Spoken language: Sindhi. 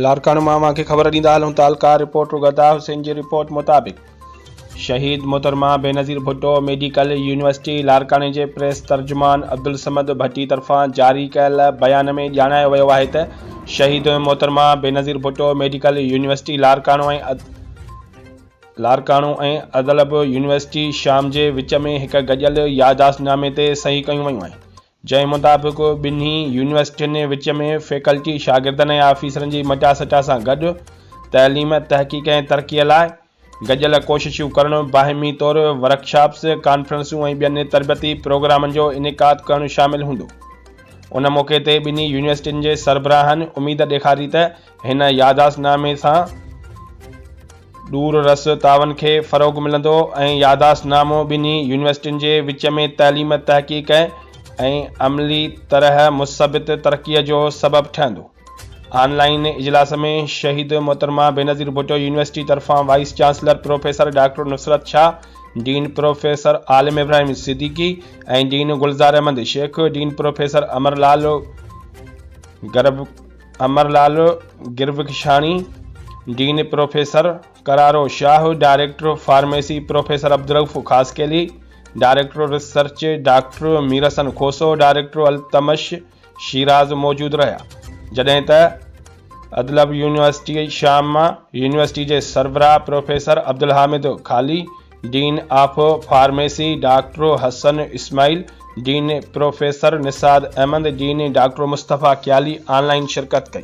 لاڙڪاڻو مان اوهان کي خبر ڏيندا هلون تعلقه رپورٽر غدا حسين جي رپورٽ مطابق شهيد محترمه بينظير ڀٽو ميڊيڪل يونيورسٽي لاڙڪاڻي جي پريس ترجمان عبدالصمد ڀٽي طرفان جاري ڪيل بيان ۾ ڄاڻايو ويو آهي ته Shaheed Mohtarma Benazir Bhutto medical university Larkana ۽ Larkana ۽ Idlib university شام جي وچ ۾ هڪ گڏيل ياداشتنامي تي صحيح ڪيون ويون آهن جنهن مطابق ٻنهي يونيورسٽين جي وچ ۾ فيڪلٽي، شاگردن ۽ آفيسرن جي مٽا سٽا سان گڏ تعليم، تحقيق ۽ ترقيء لاء گڏيل ڪوششون ڪرڻ، باهمي طور ورڪشاپس، ڪانفرنسون ۽ ٻين تربيتي پروگرامن جو انعقاد ڪرڻ شامل هوندو. ان موقعي تي ٻنهي يونيورسٽين جي سربراهن اميد ڏيکاري ته هن ياداشت نامي سان ڏور رس تعاون کي فروغ ملندو ۽ ياداشت نامو ٻنهي يونيورسٽين جي وچ ۾ تعليم، تحقيق ۽ عملي طرح مثبت ترقيء جو سبب ٺهندو. آن لائين اجلاس ۾ شهيد محترمه بينظير ڀٽو يونيورسٽي طرفان vice chancellor professor doctor Nusrat Shah, dean professor Alam Ibrahim Siddiqui ۽ dean Gulzar Ahmed Shaikh, dean professor Amar Lal گرڀ، Amar Lal Gurbakhshani, dean professor قرارو Shah, director pharmacy professor Abdul Rauf Khaskheli, director research doctor Mir Hassan Khoso, director Altamash Shiraz موجود رهيا، جڏهن ته ادلب يونيورسٽي شام مان يونيورسٽي جي سربراهه پروفيسر عبدالحامد خالي، dean of pharmacy doctor Hassan Ismail, dean professor نساد Ahmed, dean doctor Mustafa Kayali online شرڪت ڪئي.